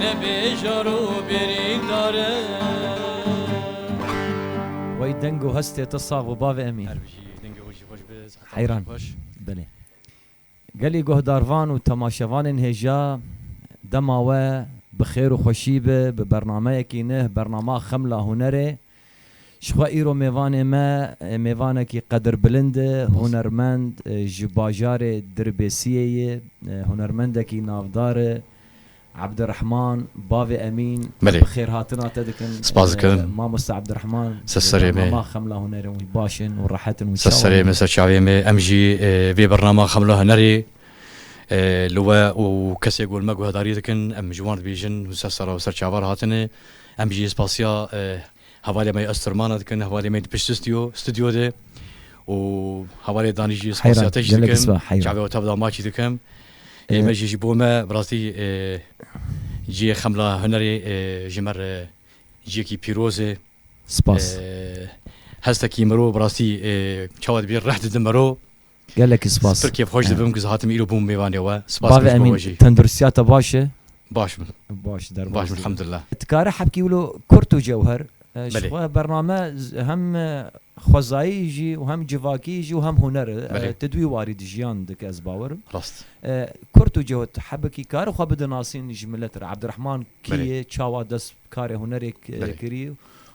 Nebê jar û bêrîk dare. Wey deng û hestê te sax bi bavê em î. Heyran belê. Gelê guhdarvan û temaşevanên hêja dema we bi xêr û xweşî be bi bernameyekî neh bernama Xemla Hunerê. Jixwe îro mêvanê me mêvanekî qedirbilind e, hunermend, ji bajarê Dirbêsiyê ye, hunermendekî navdar e. Ebdirehman, bavê Emîn, bi xêrhatina te dikin. Spas dikim. Mamoste Ebdirehman, bi bernama Xemla Hunerê wî baş in û rehet in û çawa in? Ser serê me, ser çavê me. Em jî vê bernama Xemla Hunerê li we û kesê ku li me guhdarî dikin, em ji wan dibêjin, hûn ser sera û ser çavan hatine. Em jî spasiya hevalê me yê Östermana dikin, hevalê me yê di pişt stûdyo, stûdyo de û hevalê Danî jî spasiya te jî Heyran, gelek dikin, spa, heyran. çavê otav da ma jî dikim. Ê me jî ji bo me bi rastî cihê Xemla Hunerê ji me re cihekî pîroz e. Spas. Hestekî mirov bi rastî çawa dibî rih dide miro. Gelekî spas. Pir kêfxweş dibim ku hatim îro bûm mêvanê we. Spas Bavê Emîn, Kişko jî. tendurstiya te baş e? Baş bin. Baş, derbas Baş bin dibî. elhamdulillah. Dikare hebkî wilo kurt û cewher ji Belê. xwe bername z- hem xwezayî jî û hem civakî jî û hem huner e. Belê. Ti duî warî di jiyan dike ez bawer im. Rast. Kurt û cewt hebkî kare xwe bidinasîn ji milet re. Abdurehman kî Belê. ye, çawa dest Karê hunerê kirî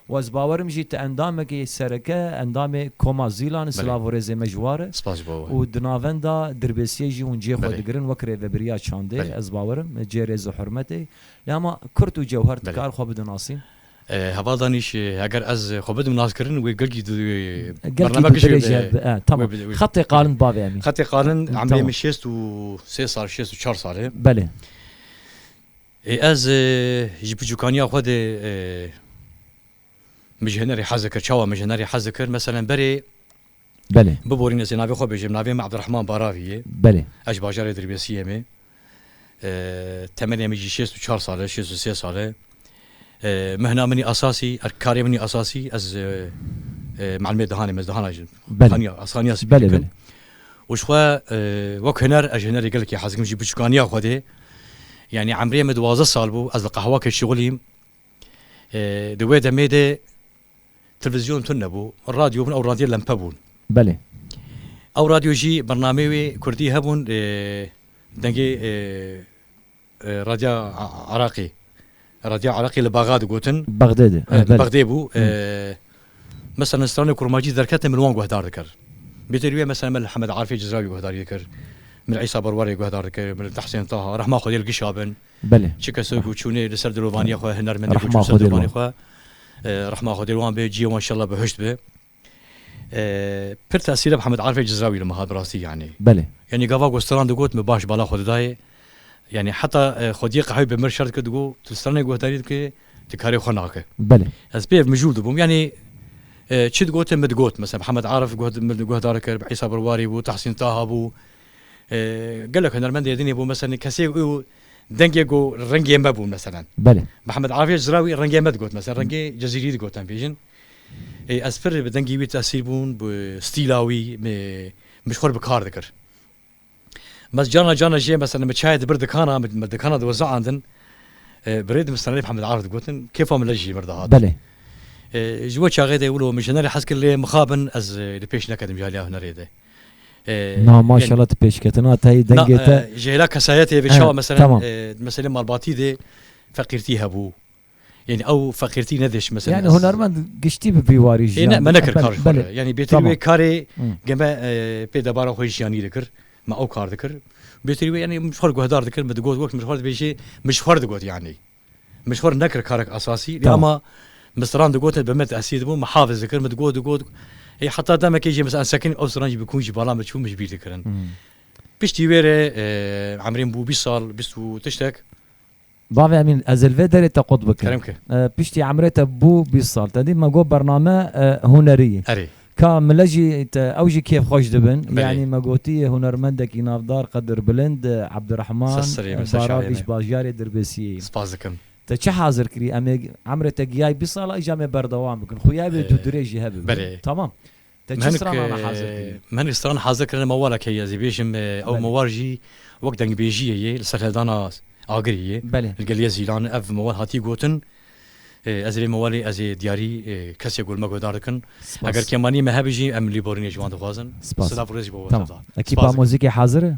û ez bawer im jî tu endamekî sereke endamê Koma Zîlan silav û rêzê me ji war e û di navenda Dirbêsiyê jî hûn cê xwe digirin wek rêvebiriya çandê ez bawer im cê rêz û hurmetê lê hema kurt û cewher dikar xwe bidin nasîn. Hevaldan îş eger ez xwe bidim naskirin wê gilkî du bername kişî wê bidê. Tamam xetê qalin bavê em î. Xetê qalin emrê min şêst û sê sal şêst û çar sal e. Belê. Ez ji piçûkaniya xwe de mijhenerê hez dikir. Çawa mijhenerê hez dikir? Meselen berê biborîn ez ê navê xwe bêjim. Navê min Ebdirehman Baravî ye. Ez ji bajarê Dirbêsiyê me. Temenê min jî şêst û çar sal e, şêst û sê sal e. Mihna min esasî, karê min esasî ez muelimê dihanê me. Ez dihana jî xaniya spî dikim. Û ji xwe wek huner, ez ji hunerê gelekî hez dikim ji biçûkaniya Xwedê. Yanî emrê min duwazdeh sal bû, ez li qehwakê şixulîm. Di wê demê de televizyon tune nebû. Radyo bûn, ew radyoya lempe bûn. Belê. Ew radyo jî bernameyê wê kurdî hebûn, dengê. Radya Iraqê Radya Iraqê li Baga digotin. Bagdê de. Li Bagdê bû. Mesela li stranê kurmacî derketin min wan guhdar dikir. Bêtê rûyê mesela min li Hemed Arifê Cizrawî guhdarî dikir. Min Îsa Berwarê guhdar dikir, min li Tehsên Taha, rehma Xwedê li Gişa bin. Belê. Çi kes ku çûnê li ser dilovaniyê xwe, hunermendê ku çû li ser dilovaniyê xwe, rehma Xwedê li wan be, cihê wan inşallah bi hişt be. Pir tesîre bi Hemed Arifê Cizrawî li min hat bi rastî yanî. Belê. Yanî gava ku stran digot min baş bala xwe didayê. Yanî heta xwediyê qehweyê bi mir şer dikir digot tu stranê guhdarî dikê tu karê xwe nake. Belê. Ez pê ev mijûl dibûm yanî çi digotin min digot mesela bi Hemed Arif min guhdar kir bi Îsa Birwarî bû Tehsîn Taha bû gelek hunermendê Êdinê bû mesela kesê û dengê ku rengê me bû mesela. Belê. Bi Hemed Arifê Cizrawî rengê me digot mesela rengê Cezîrî digot em bêjin. Ez pir bi dengê wî tesîr bûm, bi stîla wî min ji xwe re bi kar dikir. Mes carna carna jê meselem min çayê dibir dikana, min dikana diweziandin, bi rê dimistan rê bi Hemed Arif digotin, kêfa min lej jê mir dihat. Ji we çaxê de wilo min ji hunerê hez kir lê mixabin ez li pêş neketim ji aliya hunerê de. Na maşallah tu pêşketina te yê dengê te. Ji hêla kesayetê vê çawa meselem di meselê malbatî de feqîrtî hebû, Yani ew feqîrtî nediş mesela. Yani hunermend giştî bi vî warî jî. Ne me nekir kar xwe. Yani bêtir wê karê geme pê debara xwe jiyanî dikir. Me ew kar dikir. Bêtir wê yani mişxor guhdar dikir min digot wek mişxor dibêjê mişxor digot yani. Mişxor nekir karek esasî lê ama misran digotin bi me tehsî dibû me hafiz dikir min digot digot ê heta demekê jî mesela sekin ew siran jî bi kûn jî bala min çû min ji bîr dikirin. Piştî wê re emrê min bû bîst sal bîst û tiştek Bavê Emîn, ez li vê derê te qut bikim. Kerem ki. Piştî emrê te bû bîst sal. Te dît me got bername hunerî ye. Erê. Ka mile jî te ew jî kêf xweş dibin. Belê. Yanî me gotiyê hunermendekî navdar Qedir Bilind Ebdirehman Ser serê me, ser şaxê Baravîş me. Bajarê Dirbêsiyê ye. Spas dikim. Te çi hazir kirî? Em ê emrê te giyayê bîst sal a îja em ê berdewam bikin. Xweyabê tu dirêjî hebibin. Belê. Tamam. Te çi stranana hazir kirî? Me hinek stran hazir kirine mewala ke ez ê bêjim ew mewal jî wek dengbêjiyê yê li ser hevdana Agirê yê li gel yê Zîlan ev mewal hatiye gotin. Ez ê vê mewalê ez ê diyarî kesê ku li me guhdar dikin eger kemanîyê me hebe jî em lîborînê ji wan dixwazin. Silav rêz ji bo we Sevda. Ekîpa muzîkê hazir e?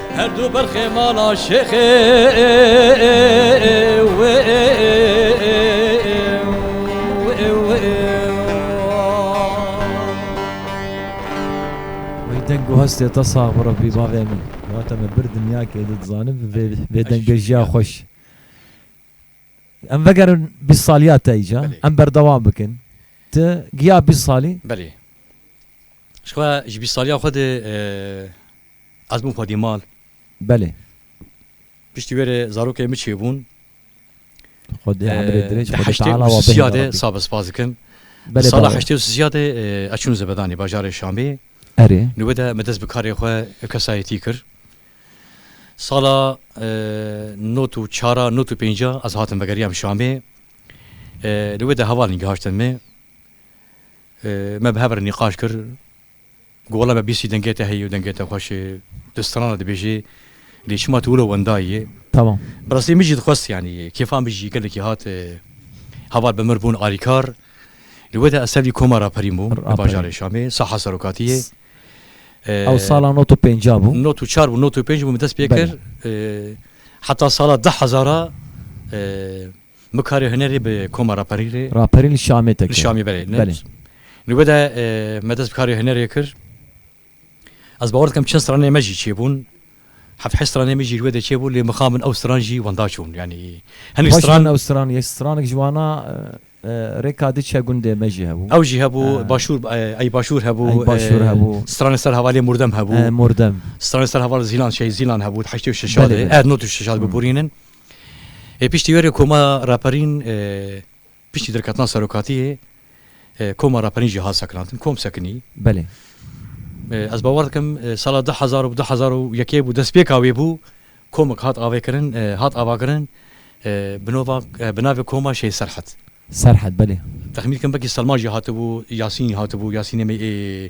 Her du ber xêmala şêxê deng û hestê te sax bi Rabbî bavê min. Ya te me bir dinyakê di dizanim vê vê dengbêjiya xwe ji em vegerin bîst saliya te îca em berdewam bikin tu giya bîst salî belê ji xwe ji bîst saliya xwe de Ez bûm xwedî mal. Belê. Piştî wê re zarokê min çêbûn. Xwedî emrê dirêj Di xwedî heştê teala û wa sisîya bêhna de Rabbî. sab spas dikim. Di Belê sala balo. heştê û sisîya de e, ez çûn Zebedanê bajarê Şamê. Erê. Nûbe de me dest bi karê xwe kesayetî kir. Sala e, not û çara, not û pênca ez hatim vegeriyam Şamê. E, Nûbe de hevalên gihiştin me. E, Me bi hev re nîqaş kir. Gola me bîstî dengê te heye û dengê te xweş e. Tu strana dibêjî lê çima tu wilo wenda yî? Tamam. Bi rastî min jî dixwest yanî kêfa min jî gelekî hat heval bi mir bûn alîkar. Li wê de ez tevlî koma raperî bûm li bajarê Şamê, saha serokatî yê. Ew sala not û pênca bû. Not û çar bû, not û pênc bû min dest pê kir. Heta sala du hezar a Bi karê hunerê bi koma raperî rê. Raperî li Şamê te kir. Li Şamê belê. Belê. Li we de me dest bi karê hunerê kir. Ez bawer dikim çend stranên me jî çêbûn. Heft heşt stranên me jî li we de çêbûn lê mixabin ew stran jî wenda çûn. Yanî hinek stran. Baş bûn ew stran yê stranek ji wana rêka diçe gundê me jî hebû. Ew jî hebû başûr ey başûr hebû. Ey başûr hebû. Stranê ser hevalê mordem hebû. Mordem. Stranê ser hevalê zîlan şey zîlan hebû heştê û şeşadê. Erd not û şeşad bibûrînin. Ê piştî wê rê koma raperîn piştî derketina serokatiyê koma raperîn jî hat sekinandin, kom sekinî. Belê. Ez bawer dikim sala du hezar û du hezar û yekê bû destpêka wê bû, komik hat avêkirin, hat avakirin bi nova bi navê koma Şêh Serhet. Serhet belê. Texmîn dikim belkî Selman jî hatibû, Yasîn hatibû, Yasînê me ê.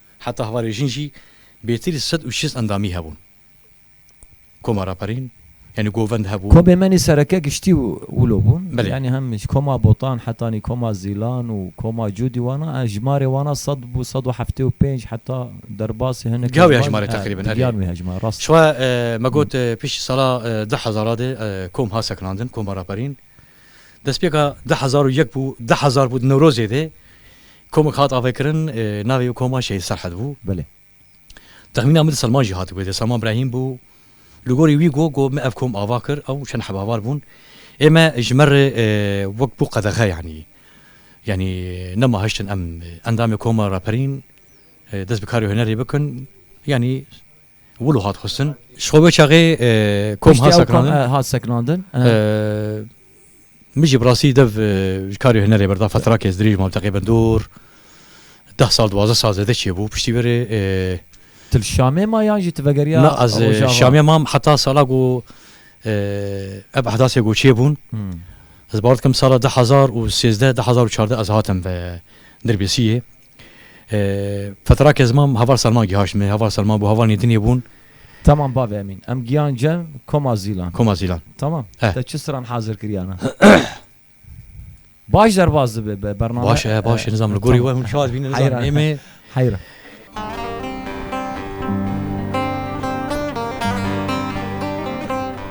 Heta hevalê jin jî bêtirî sed û şêst endamî hebûn. Koma Raperîn yanî govend hebû. Komê me nî sereke giştî û wilo bûn. Yanî hem ji koma Botan heta nî koma Zîlan û koma Cûdî wana ev jimarê wana sed bû sed û heftê û pênc heta derbasî hinek Giya wê hejmarê teqrîben erê. Giyan wê hejmarê rast e. Ji we me got piştî sala du hezara de kom hat sekinandin koma Raperîn. Destpêka du hezar û yek bû du hezar bû di Newrozê de Komek hat avêkirin, navê wê koma Şehîd Serhed bû. Belê. Texmîna min di Selman jî hatibû dê, Selman Brehîm bû. Li gorî wî got ku me ev kom ava kir, ew çend hebavar bûn. Ê me ji me re wek bû qedexe yanî. Yanî nema hiştin em endamê koma raperîn dest bi karê hunerê bikin. Yanî Wilo hat xustin. Ji xwe wê çaxê kom hat sekinandin. Piştî ew hat sekinandin. Min jî bi rastî dev ji karê hunerê berda fetrakê ez dirêj mam teqrîben dûr deh sal duwazdeh sal zêde çêbû piştî vê rê Tu li Şamê ma yan jî tu vegeriya Rojava? Na ez li Şamê mam heta sala ku ev ehdasê ku çêbûn ez bawer dikim sala deh hezar û sêzdeh deh hezar û çardeh ez hatim ve Dirbêsiyê. Fetera Kezman heval Selma gihaşt me, heval Selma bû, heval Nêdinê bûn. Tamam bavê Emîn, em giyance Koma Zîlan. Koma Zîlan. Tamam. Eh. Te çi stran hazir kiriyane? baş derbas dibe be bername. Baş e, baş e, nizam li gorî we hûn şad bîne nizam. Heyran. Êmê. Heyran.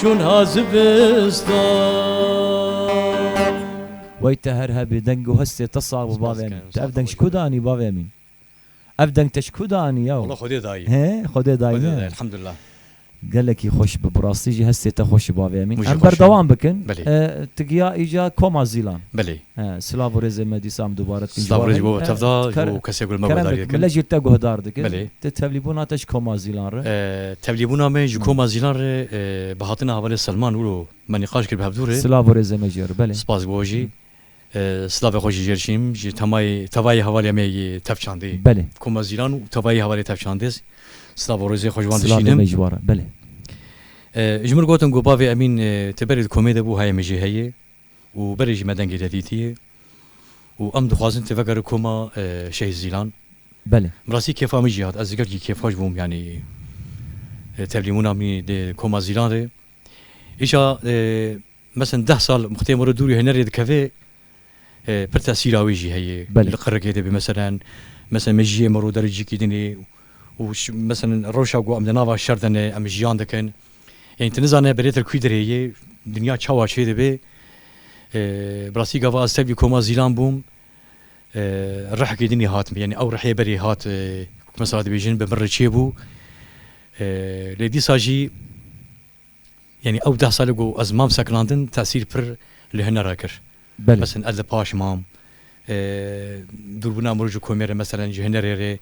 Şûn ha zivistan. Wey te her hebî deng û hestê te sax bi bavê min. Tu ev deng ji ku de anî bavê min? Ev deng te ji ku de anî yaw? Wala xwedê dayî. Hê xwedê dayî me. Elhamdulillah. Gelekî xweş bi rastî jî hestê te xweş ji bavê min. Em berdewam bikin. Tu giya îca koma zîlan. Belê. Silav û rêzê me dîsa em dubare dikin ji wan re. Keremik, min lejî te guhdar dikir. Ti tevlîbûna te ji koma Zîlan re? Tevlîbûna me ji koma Zîlan re bi hatina hevalê Selman wilo me nîqaş kir bi hevdû re. Silav û rêzê me ji we re. Belê. Spas bo jî. Silavê xwe jî jê diçînim. Ji temayê tevayê hevalê me yê Tevçandê. Belê. Koma Zîlan û tevayê hevalê Tevçandê. Silav û rêzê xwe ji wan diçînim. Silavê me ji wan re. Belê. Ji min gotin ku bavê Emîn ti berê di komê de bû, heye min jê heye. û berê jî me dengê te dîtiye û em dixwazin tu vegere koma Şehîd Zîlan. Belê. Bi rastî kêfa min jî hat, ez li gelkî kêfxweş bûm yanî tevlîmûna min dê koma Zîlan rê. Îşa meseln deh sal muxtê min re dûrî hunerê dikeve pir tesîra wê jî heye. Li qirikê de bê meseln meseln mejiyê min rû dericikî dinê û meseln rewşa ku em di nava şer de ne em jiyan dikin. Ên tu nizane Belêtir kûî dirê yê, dinya çawa çê dibê. Bi rastî gava ez tevlî koma Zîlan bûm. Rihekê din î hat min. Yanî ew rihê berê hat wek mesela dibêjin bi min re çê bû. Lê dîsa jî yanî ew deh sal e ku ez mam sekinandin tesîr pir li huner re kir. Belê. Meseln ez li paş mam. Dûrbina mirov ji komê re meselen ji hunerê rê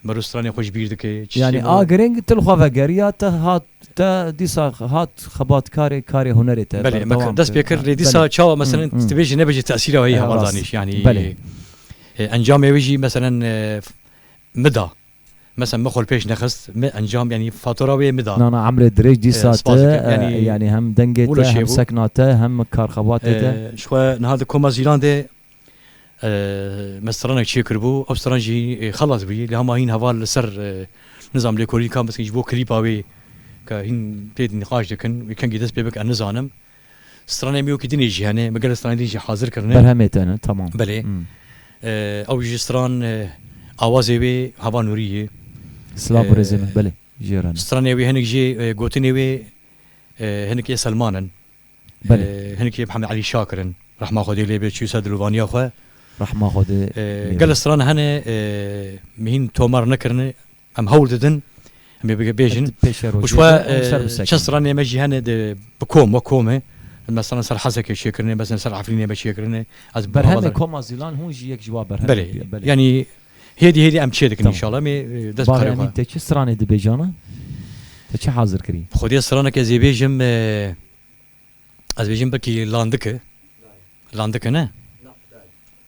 mirov stranê xwe ji bîr dike. Yanî a giring tu li xwe vegeriya te hat te dîsa hat xebatkarê karê hunerê te berdewam kir. Belê me dest pê kir lê dîsa çawa meselen tu dibêjî nebêje tesîra wê heye hevaldanî yanî encamê wê jî meselen mida Mesa min xwe li pêş nexist, min encam yanî fatura wê min da. Nana emrê dirêj dîsa te yanî hem dengê te hem sekna te hem karxebatê te. Ji xwe niha di koma zîlan de me stranek çê kiribû, ew stran jî xelas bûyî lê hema hîn heval li ser nizam lêkolînka mizkin ji bo klîpa wê ke hîn tê nîqaş dikin wê kengî dest pê bike nizanim. Stranê mî wekî din ê jî hene. Mi gelek stranê din jî hazir kirine. Berhemê te ne, tamam. Belê. Ew ji stran awazê wê Hava Nurî ye. Silav birêzê min, belê jê re ne. Stranê wê hinek jê gotinê wê hinek ê Selman in. Belê. Hinek ê Mihemed Elî Şakir in. Rehma Xwedê lê be çû ser dilovaniya xwe. Rehma Xwedê lê be. Gelek stran hene mîhîn tomar nekirine. Em hewl didin em ê bêjin û ji xwe çend stranên me jî hene di bi kom wek komê em mesela li ser Hesekê çêkirine bezin li ser Efrînê me çêkirine ez Berhemê koma Zîlan hûn jî yek ji wan berhem Belê yanî hêdî hêdî em çê dikin înşallah em ê dest bi karê xwe. Bala Emîn te çi stranê dibêjana? Te çi hazir kirî? Bi xwediyê stranek ez ê bêjim ez bêjim belkî landik e. Landik e ne?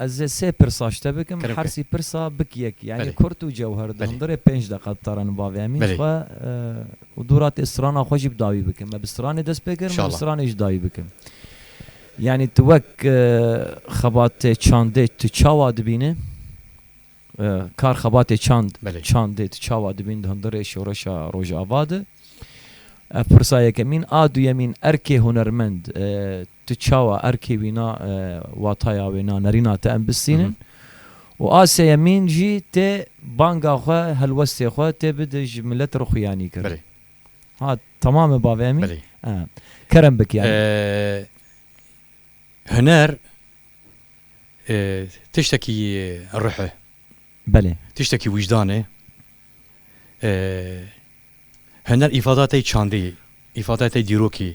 Ez ê sê pirsa ji te bikim, her sî pirsa bik yek, yanî kurt û cewher di hundirê pênc deqa di tarana bavê Emîn xwe û dû ra tê strana xwe jî bi dawî bikim. Me bi stranê dest pê kir, min bi stranê jî dawî bikim. Yanî tu wek xebatê çandê tu çawa dibînî? Kar xebatê çand, çandê tu çawa dibînî di hundirê şoreşa Rojava de? Ev pirsa yekemîn a. Duyemîn erkê hunermend Tu çawa erkê wî na wataya wê na nerîna te em bistînin û a seyemîn jî tê banga xwe helwestê xwe tê bide ji milet re xuyanî kir. Belê. Ha tamam e bavê Emîn? Belê. Ee. Kerem bik yani. Huner tiştekî ruh e. Belê. Tiştekî wijdan e. Huner îfada tey çandê, îfada tey dîrokê.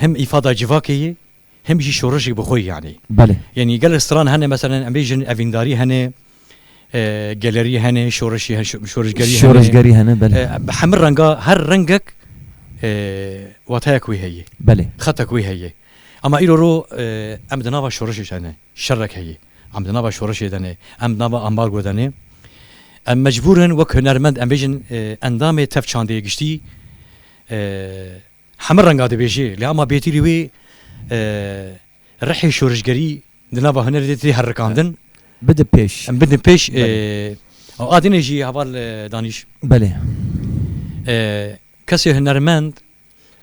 Him îfada civakê ye him jî şorişê bi xwe yanî. Belê. Yanî gelek stran hene meselen em bêjin evîndarî hene, gelerî hene, şorişî hene, şorişgerî hene. Şorişgerî hene belê. Bi hemû renga her rengek wateyek wê heye. Belê. Xetek wê heye. Ama îro ro em di nava şorişê de ne. Şerek heye. Em di nava şorişê de ne. Em di nava ambargo de ne. Em mecbûr in wek hunermend em bêjin endamê tev çandê giştî Heme renga dibêje lê ama bêtîlî wê rihê şorişgerî di nava hunerê de tê herikandin. Bidin pêş. Em bidin pêş. Adêne jî heval danîş. Belê. Kesê hunermend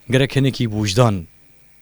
gerek hinekî wijdan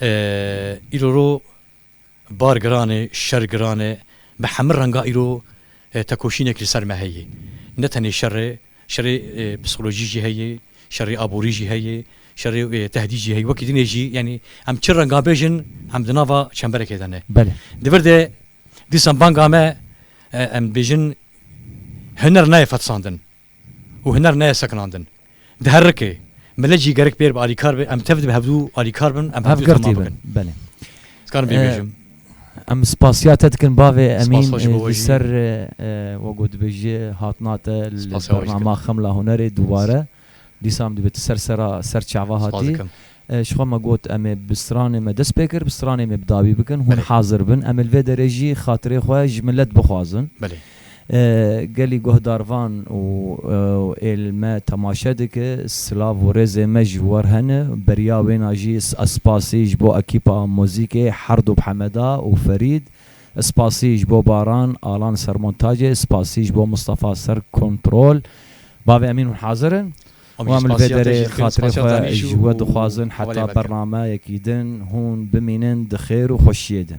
Îro ro bar giran e, şer giran e. Bi hemû renga îro tekoşînek li ser me heye. Ne tenê şer e, şerê psîkolojî jî heye, şerê aborî jî heye, şerê tehdît jî heye. Wekî din e jî yanî em çi renga bêjin em di nava çemberekê de ne. Di vir de dîsan banga me em dibêjin huner nayê fetisandin. Û huner neye sekinandin. Di her rikê, milet jî gerek pêr bi alîkar be, em tev dibe hevdu alîkar bin, em hevdu tema bikin. Belê. Dikarim pê bêjim. Em spasiya te dikin bavê Emîn li ser wek ku dibêjî hatina te li bernama Xemla Hunerê dubare. Dîsa em dibê tu ser sera ser çava hatî. Ji xwe me got em ê bi stranê me dest pê kir, bi stranê me bi dawî bikin, hûn hazir bin em ê li vê derê jî xatirê xwe ji milet bixwazin. Gelî guhdarvan û ê li me temaşe dike, silav û rêzê me ji wan hene, beriya wêna jî ez spasî ji bo ekîpa muzîkê Herdop Hemeda û Ferîd, ez spasî ji bo Baran Alan ser montacê, ez spasî ji bo Mistefa ser kontrol, bavê Emîn hûn hazir in? Wan li vê derê xatirê xwe ji we dixwazin heta bernameyekî din hûn bimînin di xêr û xweşiyê de.